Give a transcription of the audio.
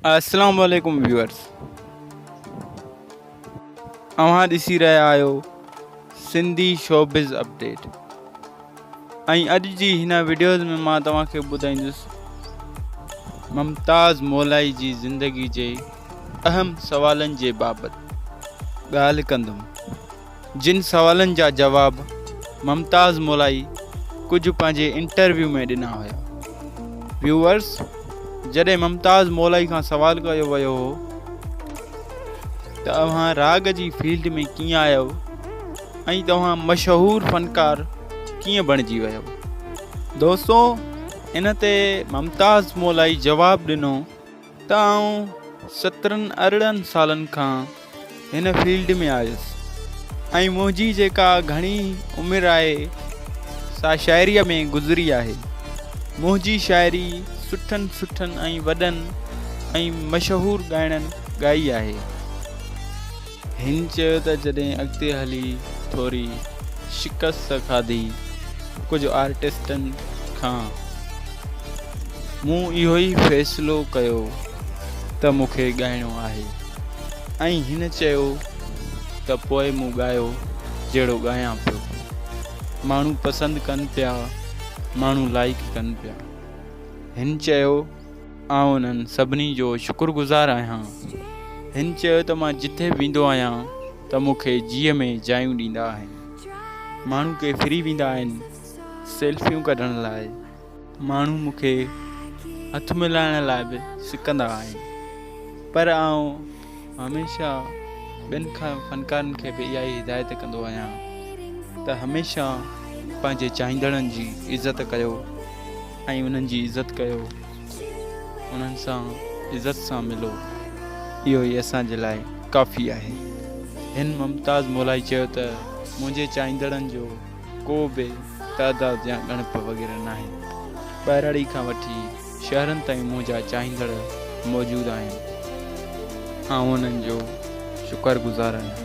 السلام عليڪم ويوئرس اوهان ڏسي رهيا آهيو سنڌي شوبز اپڊيٽ ۽ اڄ جي هن وڊيوز ۾ مان توهان کي ٻڌائيندس ممتاز مولائي جي زندگي جي اهم سوالن جي بابت ڳالهه ڪندم جن سوالن جا جواب ممتاز مولائي ڪجهه پنهنجي انٽرويو ۾ ڏنا هيا. ويوئرز جڏهن ممتاز مولائي کان سوال ڪيو ويو هو ته اوهان راڳ جي فيلڊ ۾ ڪيئن آيو ۽ توهان مشهور فنڪار ڪيئن بڻجي ويو. دوستو ان تي ممتاز مولائي جواب ڏنو. ته آئون سترهن ارڙهن سالن کان هن فيلڊ ۾ آيس ۽ منهنجي جيڪا گهڻي عمر آهي سا شاعريء ۾ گذري آهي. منهنجي شاعري سٺن سٺن ۽ وڏن ۽ مشهور ڳائڻن ڳائي آهي. هن چيو ته جڏهن اڳتي هلي ٿوري شڪست کاڌي ڪجهه آرٽسٽن کان مون اهو ئي فيصلو ڪيو ته مون کي ڳائڻو آهي ۽ هن چيو ته پوء مون ڳايو جهڙو ڳايان پيو ماڻهو پسند ڪن پيا ماڻهو لائيڪ ڪن پيا هن چيو آئون انهن سڀني جو شڪر گذار آهيان. هن چيو ته مان جتي به ويندو آهيان ته مون کي جيء ۾ جايون ڏيندا آهن. ماڻهو ڪي ڦري ويندا آهن سيلفيون ڪڍڻ لاء، ماڻهو مون کي هٿ ملائڻ لاء به سڪندا آهن پر آئون هميشه ٻين فنڪارن کي به اها ئي هدايت ڪندو آهيان ته هميشه پنهنجي چاهيندڙن جي عزت ڪيو ۽ انهن جي عزت ڪيو انهن سان عزت سان ملو اهو ئي اسان جي لاء ڪافي آهي هن ممتاز مولائي چيو ته منهنجي چاهيندڙن جو ڪو به تعداد يا ڳڻپ وغيره ناهي ٻهراڙي کان وٺي شهرن تائين منهنجا چاهيندڙ موجود آهن. آئون انهن جو شڪر گذار آهيان.